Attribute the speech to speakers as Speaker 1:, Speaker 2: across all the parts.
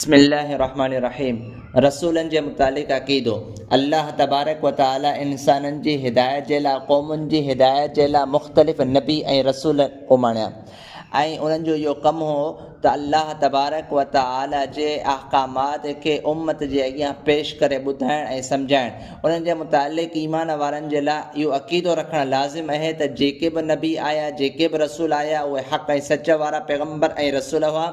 Speaker 1: بسم الله الرحمٰن الرحيم رسولن جي متعلق عقيدو، الله تبارڪ وتعالي انسانن جي هدايت جي لاء قومن جي هدايت جي لاء مختلف نبي ۽ رسول اماڻيا ۽ انهن جو اهو ڪم هو ته الله تبارڪ وتعالي جي احڪامات کي امت جي اڳيان پيش ڪري ٻڌائڻ ۽ سمجهائڻ انهن جي متعلق ايمان وارن جي لاء اهو عقيدو رکڻ لازم اهي ته جيڪي به نبي آيا جيڪي به رسول آيا اهي حق ۽ سچ وارا پيغمبر ۽ رسول هئا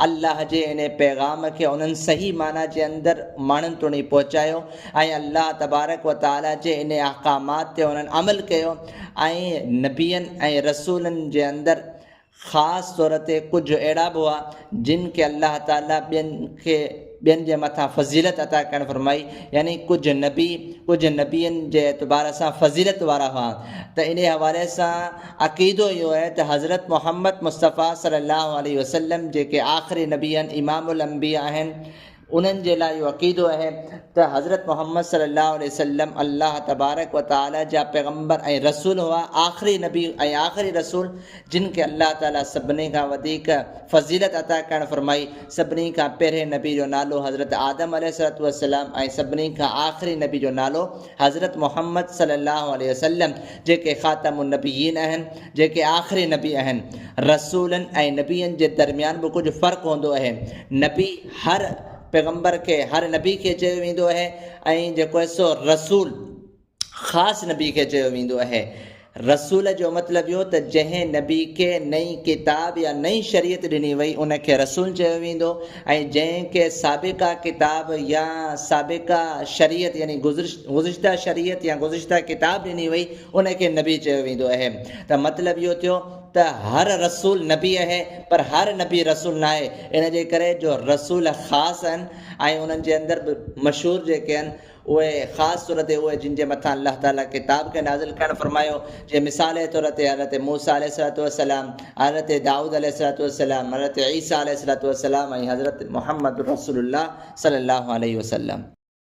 Speaker 1: الله جي ان پيغام کي انهن صحيح معنيٰ جي اندر ماڻهن توڻي پهچايو ۽ الله تبارڪ و تعالي جي ان احڪامات تي انهن عمل ڪيو ۽ نبين ۽ رسولن جي اندر خاص طور تي ڪجهه اهڙا به هئا جن کي الله تعالي ٻين کي ٻين جي مٿان فضيلت عطا ڪرڻ فرمائي، يعني ڪجهه نبي ڪجهه نبين جي اعتبار سان فضيلت وارا هئا ته انهي حوالي سان عقيدو اهو آهي ته حضرت محمد مصطفيٰ صلي الله عليه وسلم جيڪي آخري نبي آهن امام الانبياء آهن انهن جي لاء اهو عقيدو آهي ته حضرت محمد صلي الله عليه وسلم الله تبارڪ وتعالي جا پيغمبر ۽ رسول هئا آخري نبي ۽ آخري رسول جن کي الله تعالي سڀني کان وڌيڪ فضيلت عطا ڪرڻ فرمائي، سڀني کان پهرين نبي جو نالو حضرت آدم عليه الصلوة والسلام ۽ سڀني کان آخري نبي جو نالو حضرت محمد صلي الله عليه وسلم جيڪي خاتم النبيين اهن جيڪي آخري نبي اهن رسولن ۽ نبين جي درميان به ڪجهه فرق هوندو اهي نبي هر پيغمبر کي هر نبي کي چيو ويندو اهي ۽ جيڪو سو رسول خاص نبي کي چيو ويندو اهي. رسول جو مطلب اهو ته جنهن نبي کي نئين ڪتاب يا نئين شريعت ڏني وئي ان کي رسول چيو ويندو ۽ جنهن کي سابقه ڪتاب يا سابقه شريعت يعني گذشته شريعت يا گذشته ڪتاب ڏني وئي ان کي نبي چيو ويندو اهي ته مطلب اهو ٿيو ته هر رسول نبي اهي پر هر نبي رسول ناهي ان جي ڪري جو رسول خاص اهن ۽ انهن جي اندر به مشهور جيڪي اهن اهي خاص طور تي اهي جن جي مٿان الله تعاليٰ ڪتاب کي نازل ڪرڻ فرمايو جيئن مثال جي طور تي حضرت موسيٰ عليه الصلوة والسلام، حضرت دائود عليه الصلوة والسلام، حضرت عيسيٰ عليه الصلوة والسلام ۽ حضرت محمد رسول الله صلي الله عليه وسلم.